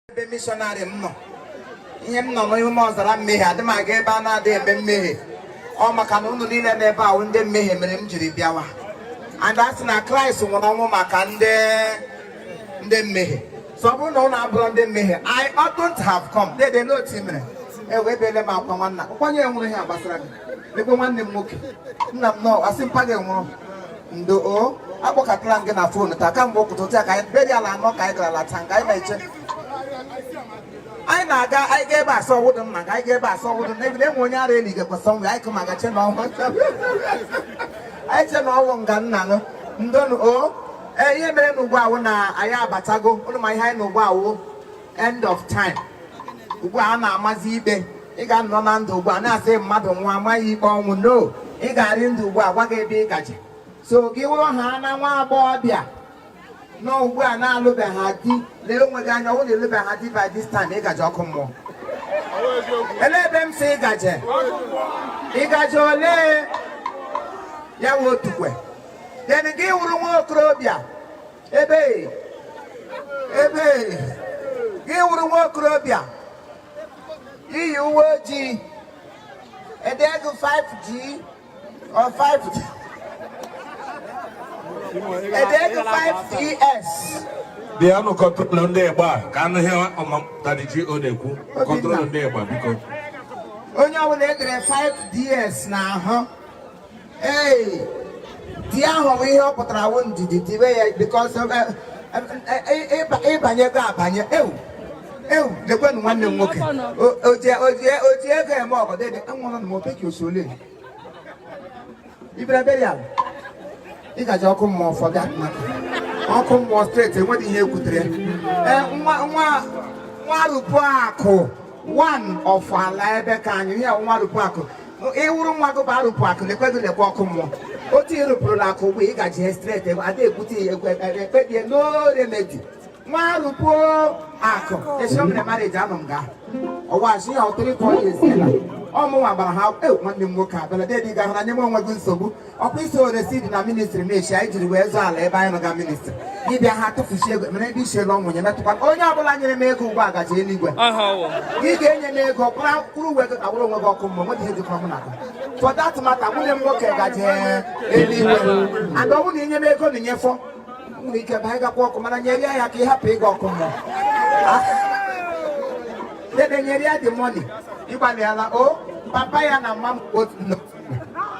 ebe missionary m nọ ihe m nọ n'ime ọzara mmehie adị m aga ebe a na-adị eme mmehie ọ maka na ụnụ niile n'ebe a wụ ndị mmehie mere m jiri bịawa and a sị na kraịst nwụrụ ọnwụ maka ndị ndị mmehie so ọ bụrụ na ụnụ abụghị ndị mmehie i wouldn't have come dede n'otu mere ewebele m akwa nwanna kwa onye nwụrụ ihe a gbasara gị ekwe nwanne m nwoke nna m nọ asị mpa gị nwụrụ ndo o akpọkatala m gị na fon taa kamgbe ụtụtụ taa ka anyị burial anọ ka anyị gara lata nke anyị na-eche anyị na-aga anyị ga ebe asọ wụdụ mma ka anyị ga ebe asọ wụdụ na ebido enwe onye ara eli gekwa sọ nwe anyị kụ maka che na ọnwụ anyị che na ọnwụ nga nna nụ ndo nụ o ee ihe mere na ugbu a wụ na anyị abatago ụnụ ma ihe anyị nọ ugbu a wụ end of time ugbu a na-amazi ikpe ị ga-anọ na ndụ ugbu a na-asị mmadụ nwụọ a maa ya ikpe ọnwụ no ị ga-arị ndụ ugbu a gwa gị ebe ị gaje so gị wụrụ ha na nwa agbọghọbịa nọ ugbu a na-alụbeghị di lee onwe gị anya ọ wụ na ị lụbeghị di by this time ị gaje ọkụ mmụọ olee ebe m sị ị gaje ị gaje ole ya nwe otukwe then gị wụrụ nwa okorobịa ebe ebe gị wụrụ nwa okorobịa i yi uwe ojii edego 5G or 5G edego 5DS bịanụ control ndị ịgba ka a nụ ihe ọmamtadị ji ọ na-ekwu control ndị ịgba biko onye ọbụla edere 5DS n'ahụ ee di ahụ bụ ihe ọ pụtara wụ ndidi dibe ya because ị banyego abanye ewu ewu lekwenụ nwanne m nwoke oji ego eme ọgọ dede enwere na mopeki osole ị bịara burial ị gaji ọkụ mmụọ fọga maka ọkụ mmụọ straight enweghị ihe ekwutere nwa arụpụ akụ one of ala ebe ka anyị ya nwa rụpụ akụ ị wụrụ nwa gị bụ arụpụ akụ lekwe gị lekwe ọkụ mmụọ otu ị rụpụrụla akụ mgbe ị gaji straight ada ekwute ya ekwe ekpebie no remedy nwa rụpụ akụ esi o mere marriage anọ m ga ọwa asị ya ọtụrụ ịkọ ya eziela ọmụnwa gbara ha nwanne m nwoke abịala dedị ga hụ na nyeme onwe gị nsogbu ọkwa isi oresi dị na ministry na-echi anyị jiri wee zụọ ala ebe anyị nọga ministry ị bịa ha tụfusi ego mere ndị isi elu ọ wụ onye metụkwa onye ọbụla nyere m ego ugbu a gaji eluigwe ị ga-enye m ego kwụrụ uwe gị ka wụrụ onwe gị ọkụ mmụọ nwedị ihe jikọrọ mụ na gị for that matter nwanne m nwoke gaji eluigwe and ọ bụrụ na i nye m ego na i nyefọ nwere ike ba anyị gakwa ọkụ mana nyere ya ka ị hapụ ịga ọkụ mmụọ ah. dede nyere ya the money ị gbalịala o oh, papa ya na mma m otu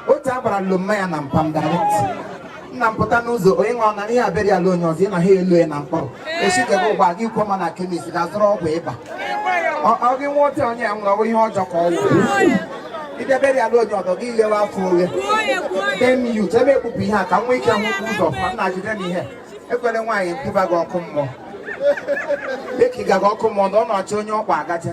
otu a gbara lomma ya na mpam direct nna m pụta n'ụzọ onye nwa na ihe abịara ala onye ọzọ ị na ha elu ya na mkpọrọ echi gebe ụgbụa gị kwuo ma na kemis ga-azụrụ ọgwụ ịba ọ gị nwa otu onye ya nwụrụ ọ bụ ihe ọjọọ ka ọ wụ idebere ala onye ọdọ gị lewe afọ oghe dem yu chebe ekpupụ ihe a ka nwa ike nwụkwụ ụzọ ma nna jide m ihe e kwere nwaanyị m tụba gị ọkụ mmụọ dịka ị gaga ọkụ mmụọ na ọ na-achọ onye ọkwa agacha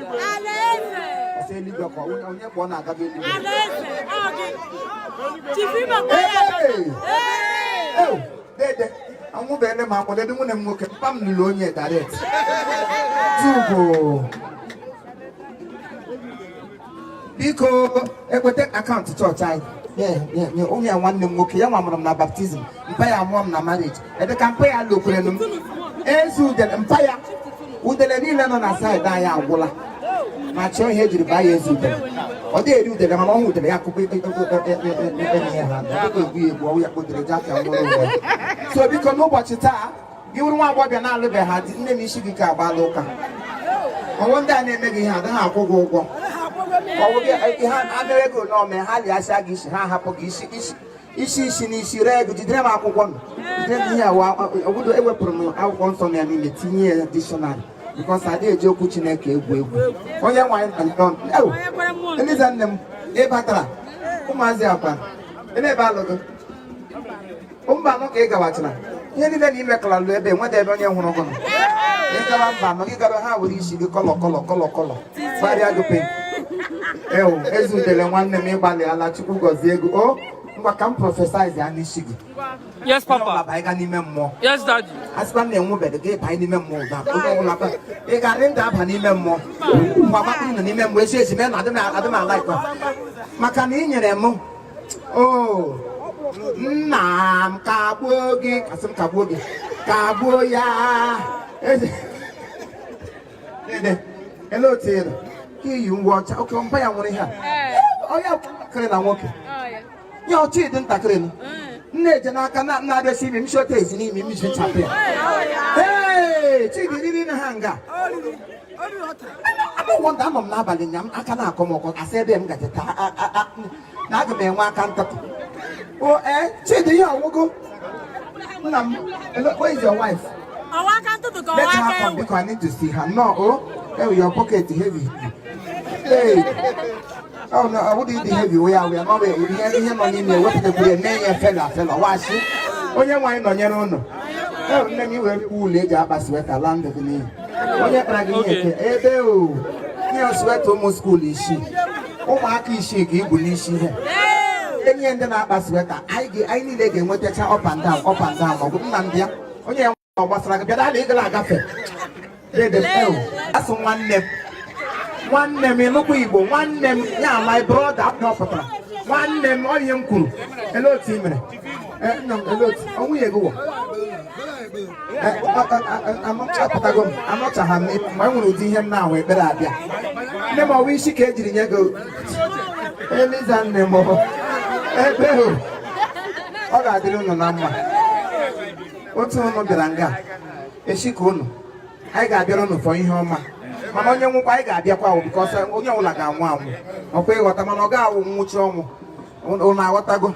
anwụbeghị m akwa dede nwunye m nwoke papa m lụrụ onye direct tugo biko ekweta akaụntụ chọọchị anyị onye nwanne m nwoke ya nwa mụrụ m na baptizim mpa ya mụọ m na marriage ebe ka mpa ya lokwurenu m Eze Udele mpa ya udele niile nọ na saịdị anyị agwụla ma chọọ ihe e jiri baa ya Eze Udele ọ dịghị eri udele mana ọ hụ udele ya akụkọ ihe ha egbu ya egbu ọ wụ ya kpatara ji aka nwere onwe so biko n'ụbọchị taa gị wụrụ nwa agbọghọbịa na-alụbeghị ha di nne m isi gị ka agbaala ụka ọ wụ ndị a na-eme gị ihe adịghị akwụ gị ụgwọ ọ wụ gị ha adịghị ego n'ọme ha lịasịa gị isi ha ahapụ gị isi isi isi isi na isi ree ego jidere m akwụkwọ m jidere m ihe awa obodo ewepụrụ m akwụkwọ nsọ m ya niile tinye ya dictionary because adịghị eji okwu chineke egwu egwu onye nwanyị nọ Eliza nne m ị batara ụmụazị akwa ebe ebe alụgo mba anọ ka ị gawachara ihe niile na imekọla lụ ebe nweta ebe onye hụrụ gụnụ ị gawa mba anọ gị gara ha were isi gị kọlọ kọlọ kọlọ kọlọ gbarịa gị pink ewu Ezeudele nwanne m ị gbalịala chukwu gọzie gị o ngwa ka m prophesize ya n'isi gị yes papa ọbaba ịba n'ime mmụọ yes daddy asịkwa m na-enwubeghị gị ịbanye n'ime mmụọ ụda onye ọbụla ba ị ga-adị ndụ aba n'ime mmụọ ngwa gbapụ nọ n'ime mmụọ esi esi mee na adị m- adị m ala ikpe maka na ị nyere m o nna m kagbuo gị asị m kagbuo gị kagbuo ya Eze- ele otu ị nọ ka i yi uwe ọcha oke mpa ya nwere ihe a onye ntakịrị na nwoke ya ọ Chidi ntakịrị nọ nne eje n'aka na-abịasi imi m shota ezi n'imi m ji chapụ ya ee Chidi riri na ha nga no wonder anọ m n'abalị nya m aka na-akọ m ọkọ asị ebe m gaje taa na aga m enwe aka ntụtụ o ee Chidi ihe ọgwụgwụ nna m where is your wife ọ wụ aka ntụtụ ka ọ wụ aka ewu because I need to see her no o ewu your pocket heavy hey ọ na ọ bụdị dị heavy wee awụ ya ma ọ bụ ihe ihe nọ n'ime ewepụtakwuru ya mee ya fela fela washi onye nwaanyị nọnyere ụnụ ewu nne m i were wool e ji akpa sweater laa ndụ gị n'iyi onye kpara gị ihe ebe o ihe sweater ụmụ skuul isi ụmụaka isi ike ibu n'isi ihe e nye ndị na-akpa sweater anyị niile ga-enwetacha up and down up and down maọbụ nna ndị ya onye ọ gbasara bịa daala ịgala agafe a sị nwanne m nwanne m ịnụkwa igbo nwanne m ya my brother apụtara nwanne m onye m kwuru ele otu i mere nwunye gị wụ apụtago m anọchaghị m ma e nwere ụdị ihe m na-ahụ ekpere abịa nne m ọwa isi ka e jiri nye gị eliza nne m ebe ọ ga-adịrị unu na mma otu unu bịara nga echi ka unu anyị ga-abịara unu for ihe ọma mana onye nwụkwa anyị ga-abịakwa o because onye ọbụla ga-anwụ anwụ ọkwa ị ghọta mana ọ ga-awụ nwụchi ọnwụ ụnụ aghọtago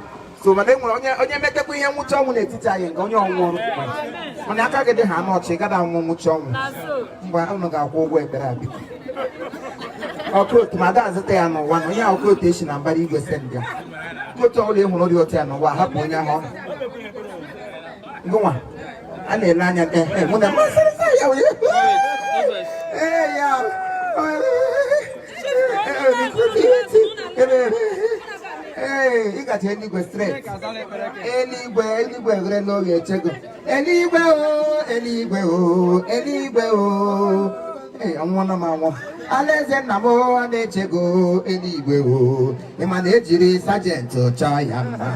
so mana e nwere onye onye metekwa ihe nwụchi ọnwụ n'etiti anyị nke onye ọnwụ ọrụ mana aka gị dịha n'ọcha ị gada anwụ nwụchi ọnwụ mgbe ụnụ ga-akwụ ụgwọ ekpere abịa ọkụ otu ma ada azụta ya n'ụwa na onye ọkụ otu esi na mbara igwe send ya otu ọbụla ị hụrụ dị otu ya n'ụwa hapụ onye ahụ ọnụ gụnwa a na-ele anya mụ na mmasịrịta ya ee ya ee ị gacha eluigwe straight eluigwe eluigwe ghere oghe echego eluigwe o eluigwe o eluigwe o ee ọnwụna m anwụ alaeze nna m ọ na-echego eluigwe o ị ma na ejiri sajenti chọọ ya mma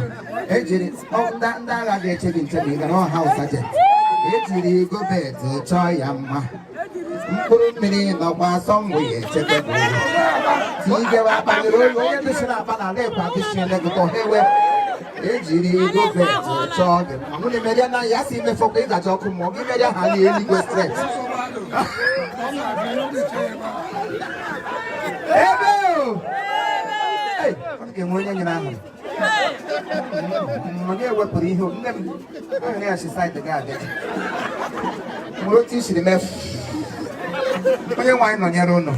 ejiri ndị agha ga-eche gị nche ma ị gara ọha sajenti ejiri gọọmenti chọọ ya mma mkpụrụ mmiri nọkwa asọ mgbe ya echekwa tigewe akpanyere oyi onye dịsịrị akpa na ala ekwe adịsị elekọta ha ewe ejiri govet chọọ gị mma mụ na-emeria na ya si i mefọkwa ị gaje ọkụ mmụọ gị meria ha na eluigwe straight ebe o! Hey, ọ ga-enwe onye nyụrụ ahụ onye wepụrụ ihe nne m ahụ ya si side gị abịa nwere otu i siri mefu onye nwaanyị nọnyere ụnụ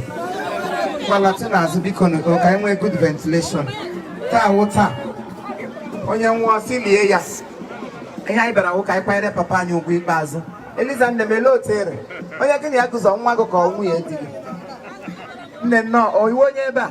gbalati n'azụ biko nugo ka anyị nwee good ventilation taa wụ taa onye nwụọ si lie ya ihe anyị bịara wụ ka anyị kwanyere papa anyị ugwu ikpeazụ eliza nne m ele otu ere onye gị na ya gụzọ nwa gị ka ọ nwunye di gị nne nnọọ ị wụ onye ebe a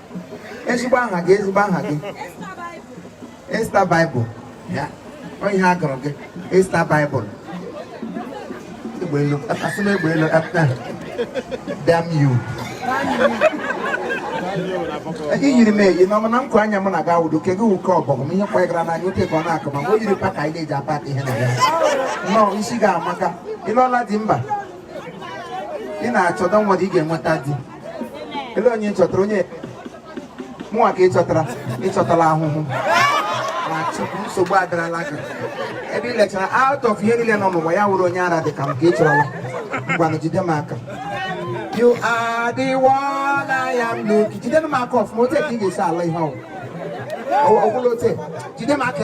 ezigbo aha gị ezigbo aha gị Esther Bible ya onye a gụrụ gị Esther Bible egbeelu asị m egbeelu apụta damn you i yiri m eyi n'ọma na nku anya m na ga awụdo ke gị wụ ke ọbọgwụ ihe kwanyegara n'anya oke ka ọ na-akụ ma o yiri packer anyị na-eji apa ihe na ya nnọọ isi gị amaka ị lụọla di mba ị na-achọ don't worry ị ga-enweta di ele onye chọtara onye mụnwa ka ị chọtara ị chọtala ahụhụ ah nsogbu adarala gị ebe ị lechara out of ihe niile nọ n'ụwa ya wụrụ onye ara dị ka m ka ị chọrọla ngwanụ jide m aka you are the one I am looking jide m aka ọfụma ote ka ị ga-esi ala ihe ọ wụ wụrụ ote jide m aka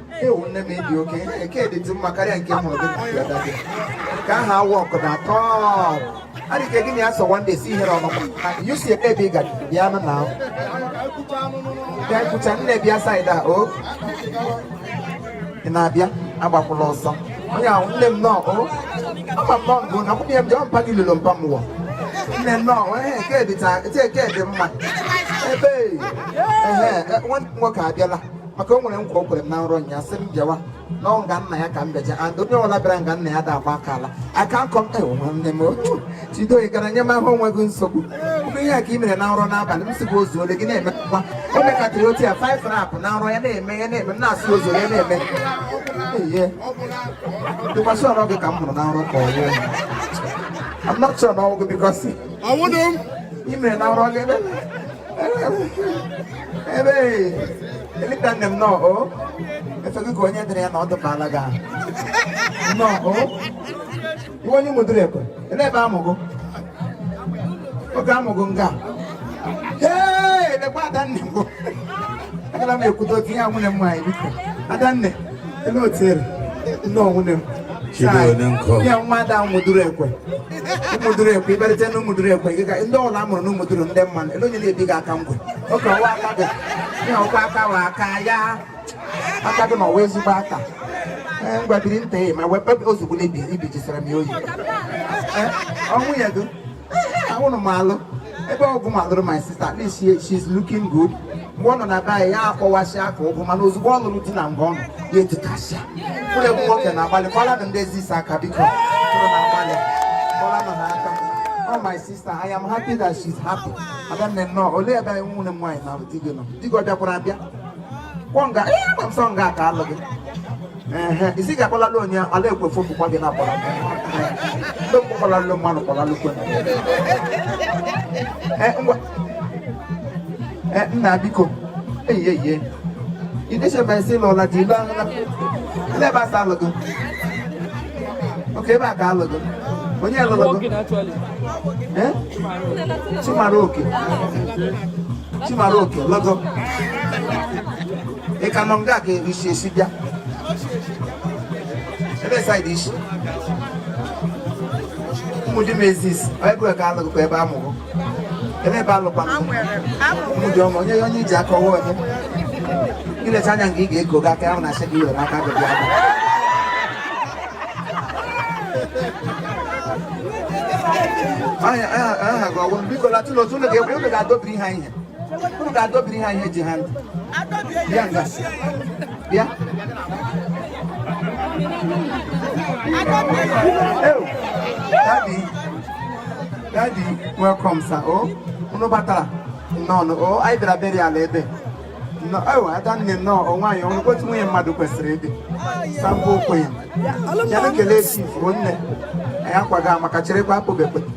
ewu nne m ị dị okay nke dịtụ mma karịa nke mụrụ gị na dada gị ka aha awụ ọkụ na atọ adịghị gị na ya sọ wande si ihere ọnụkwa you si ebe ebe ị ga bịa nụ na bịa kwucha nne bịa saịda o ị na-abịa agbakwụla ọsọ onye ahụ nne m nnọọ o ama m nọ ngụ na kwụnye m jọọ mpa gị lụrụ mpa m wọ nne nọ ee nke dị mma ebe ehe nwanne nwoke abịala maka o nwere nkwa o kwere m na nrọ nya sị m bịawa n'ọnwụ nga nna ya ka m bịaja and onye ọbụla bịara nga nna ya da agba aka ala aka nkọ m ewu nwanne m otu chidoyi gara nye m ahụ onwe gị nsogbu ụmụ ihe a ka ị mere na nrọ n'abalị m sịbụ ozuole gị na-emekwa o mekatịrị otu ya five rap na nrọ ya na-eme ya na-eme m na-asị ozuole ya na-eme ihe dịkwasị ọrụ gị ka m mụrụ na nrọ ka ọ nwụọ I'm not sure na ọ wụ gị because ọnwụdụ m ị mere na nrọ gị ebe ebe eleta nne m nnọọ o efe gị ka onye dụrụ ya na ọ dụbala gị ahụ nnọọ o ị wụ onye Ụmụduruekwe elee ebe amụgụ oge amụgụ nga ee elekwa adanne m agara m ekwudo otu ihe a nwunye m nwaanyị biko adanne ele otu ere nnọọ nwunye m Chido Odenko. ya nwa ada Ụmụduruekwe Ụmụduruekwe ị bịarịta na Ụmụduruekwe gị ka ndị ole a mụrụ na Ụmụduru ndị mmanụ ele onye na-ebi gị aka ngwe okay ọ wụ aka gị ihe ọkwa aka wụ aka ya aka gị na ọ wụ ezigbo aka ee ngwa biri nta ya ma wee kpebe ozugbo na ibi ibijisara m ya oyi ọnwụ ya gị anwụrụ m alụ ebe ọgụ madụrụ my sister at least she, she's looking good mgbe ọ nọ na be anyị ya akpọwasịa aka ụgwụ mana ozugbo ọ lụrụ di na mgbe ọ nọ ya etukasịa mkpụrụ egwu nwoke na-agbalịkwala na ndị ezi isi aka biko mkpụrụ na-agbalịkwala nọ ha aka Oh my sister, I am happy that she's happy. Adanne nnọọ, olee ebe anyị nwunye m nwaanyị na di gị nọ? Di gị ọ bịakwara abịa? Kwọ nga, ihe ama m sọ nga ka alụ gị. ehe isi ga-akpọlalụ onye ala ekwe fo bụkwa gị na-akpọla ndị mgbe kpọlalụ mmanụ kpọlalụ kwe Eh, ngwa Eh, nna biko eyi eyi idechebe nsị lụla dị ilu ahụ ndị ebe asa alụgo okay ebe a ka alụgo onye lụrụ gị Working actually. Eh? Chimaroke. Chimaroke, lọgọ. ị ka nọ nga ka isi esi bịa ebe saịdị isi ụmụ di m ezis ebue ka alụgụkwa ebe amụrụ ebe ebe alụkwana ụmụ di ọma onye onye iji aka ọwa onye ilecha anya nke ị ga-eko gị aka ahụ na asị gị were aka gị bịa aha gị ọgwụ biko latụlụ otu ụlọ ga-egwu ụlọ ga-adọbiri ha ihe unu ga-adọbiri ha ihe ji ha ntị bịa nga bịa daddy daddy welcome sir o oh, unu batara nnọọ o oh, anyị bịara beri ala ebe ewe oh, ada nne nnọọ o nwaanyị ọ wụ otu nwunye mmadụ kwesịrị ịdị sample okwenye ya na-ekele esi ifuru nne anyị akwaga maka cherekwa akpụbekwe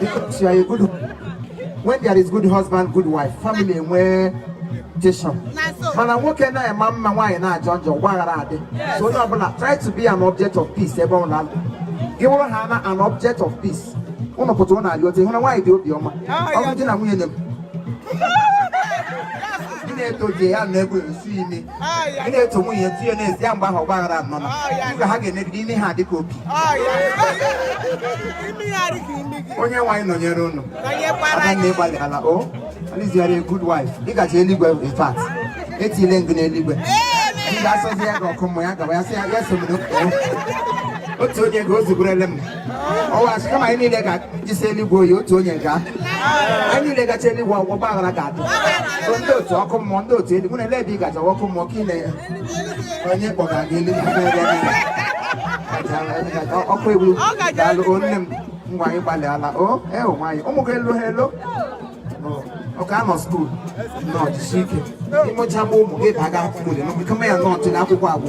If you are a good, when there is good husband, good wife, family enwe tension. Mana nwoke na-ama mma nwaanyị na-ajọ njọ ọgbaghara adị. So onye ọbụla try to be an object of peace ebe ọ na-alụ. Gị wụrụ ha na an object of peace. Ụnụ pụta ụnụ arịọ otu ị hụna nwaanyị dị obi ọma. Ọ bụ di na nwunye na-eto di ya na-ebu esi ime. ị na-eto nwunye etu ya n'ezi ya mgbe ahụ ọgba aghara anọ na mgbe ha ga-emebiri ime ha dịka obi onye nwaanyị nọnyere ụnụ aka na ị gbalịala o alizigharị good wife ị ga-eje eluigwe in fact etile m gụ n'eluigwe ndị asọzi ya ga ọkụ mmụọ ya gaba ya sị ya ya sọ m otu onye ga o zuburele m ọwa asị kama anyị niile ga-ejesi eluigwe oyi otu onye ka anyị niile gacha eluigwe ọ wụ ọgbaghara ga-adị ndị otu ọkụ mmụọ ndị otu eluigwe na-ele ebe ị gacha ọkụ mmụọ ka ị na onye kpọga gị eluigwe ọkụ egwu daalụ o nne m ngwa anyị gbalịala o e nwaanyị ụmụ gị elu ha elu ọ ka nọ skuul nọ jisi ike ị mụcha ụmụ gị baga akwụkwọ dị n'ọkụ kama ya nọ ọtụ na akwụkwọ agwụ